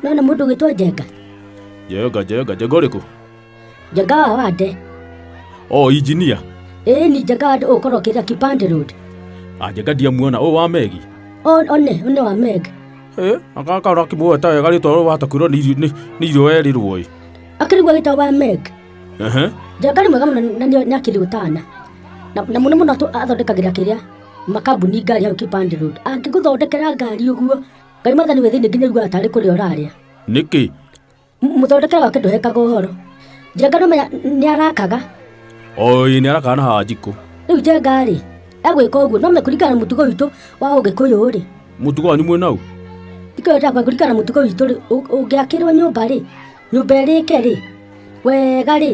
nona mũndũ ũgĩtwo njenga njenga njenga njenga ũrĩkũ njenga wa wande o oh, injinia ĩĩ ni njenga wande ũkorwo kĩrĩa kipande road anjenga ndiamuona ũyũ wa megi one one wa meg aka kaura kimuoe ta wega rĩtwa rũrũ watakwirwo nĩ irio werirwo ĩ akĩrigwo gĩtwa wa meg njenga nĩ mwega mũno na nĩ akĩrĩ ũtana na mũno mũno athondekagĩra kĩrĩa makambuni ngari hau kipande road angĩgũthondekera ngari ũguo ngai mathani wĩ thĩinĩ nginya iguaga tarĩ kũrĩa ũrarĩa nĩkĩ mũthondekera wake ndũhekaga ũhoro njenga no menya nĩ arakaga oi nĩ arakaga na haha njikũ rĩu njengarĩ egwĩka ũguo no mekũringana na mũtugo witũ wa ũgĩkũyũ rĩ mũtugo wanyu mwĩ nau ikĩrwo ndakwa kũringana na mũtugo witũ rĩ ũngĩakĩrwo nyũmba rĩ nyũmba ĩrĩke rĩ wega rĩ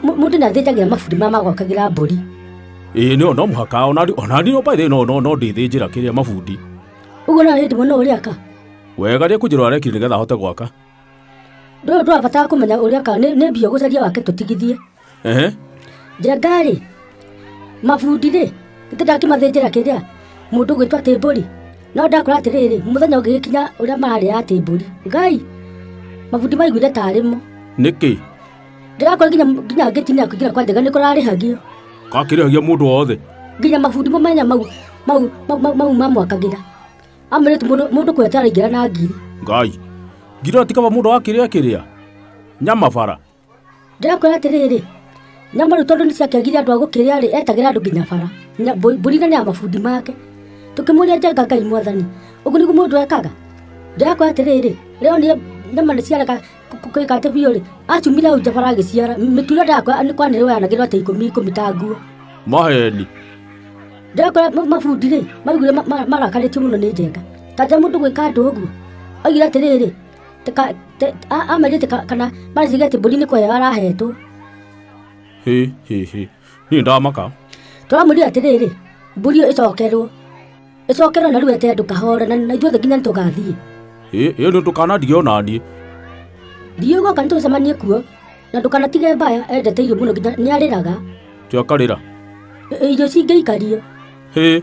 mũ- mũndũ nĩ athĩnjagĩra mabundi ma magokagĩra mbũri ĩĩ nĩyo no mũhaka onani onani no baithĩ no no no ndĩthĩnjĩra kĩrĩa mabundi ũguo no hĩndĩ mũno ũrĩa ka wega rĩ kũnjĩra arekire nĩgetha ahote gwaka ndũyũ ndũrabatara kũmenya ũrĩa ka nĩ nĩ mbia ũgũcaria wake tũtigithie Ehe. njengarĩ mabundi rĩ nĩtĩndakĩmathĩnjĩra kĩrĩa mũndũ gwĩtwa tĩmbũri no ndakora atĩrĩrĩ mũthenya ũngĩgĩkinya ũrĩa mararĩa ya tĩmbũri ngai mabundi maiguire tarĩmo Nĩkĩ? ndĩrakora nginya nginya ngĩtinia kũingĩra kwa njega nĩkũrarĩhagio Gakĩrĩhagia mũndũ wothe. nginya mabundi mamenya mau mau mau- mau mau mamwakagĩra amwĩrĩte mũndũ mũndũ kwetaraingĩra na ngiri Ngai. Ngiroti kaba mũndũ akĩrĩa kĩrĩa. Nyama bara. ndĩrakwĩra atĩrĩrĩ nyamũrũ tondũ nĩ ciakĩagire andũ a gũkĩrĩa rĩ etagĩra andũ nginya bara Nya- mbũ- mbũri na nĩ ya mabundi make tũkĩmũria njenga ngai mwathani ũguo nĩguo mũndũ ekaga ndĩrakwĩra atĩrĩrĩ rĩo nĩ nyama nĩ ciareka kũika atĩ biũ rĩ acumire hau nja bara agĩciara mĩtura ndĩrakwĩra nĩ kwanĩrĩ wayanagĩrwo atĩ ikũmi ikũmi ta nguo maheni ndakora mabundi rĩ maugire ma- ma- marakarĩtio mũno nĩ njenga kanja mũndũ gwĩka andũ ũguo augire atĩrĩrĩ Tika- te- a- amerĩte ka- kana mareciria atĩ mbũri nĩ kweyo arahetwo hä hä hä niä ndamaka tũramwĩrire atĩrĩrĩ mbũri ĩyo ĩcokerwo ĩcokerwo na rĩu ete ndũkahore na na ithuothe nginya nĩ tũgathiĩ ä ä nä ndå kanandige ona niä riũ goka nĩ tũcemanie kuo na ndũkanatige mbaya endete irio mũno nginya nĩ arĩraga kä akarä ra Ĩ- ĩ, irio cingĩikario hä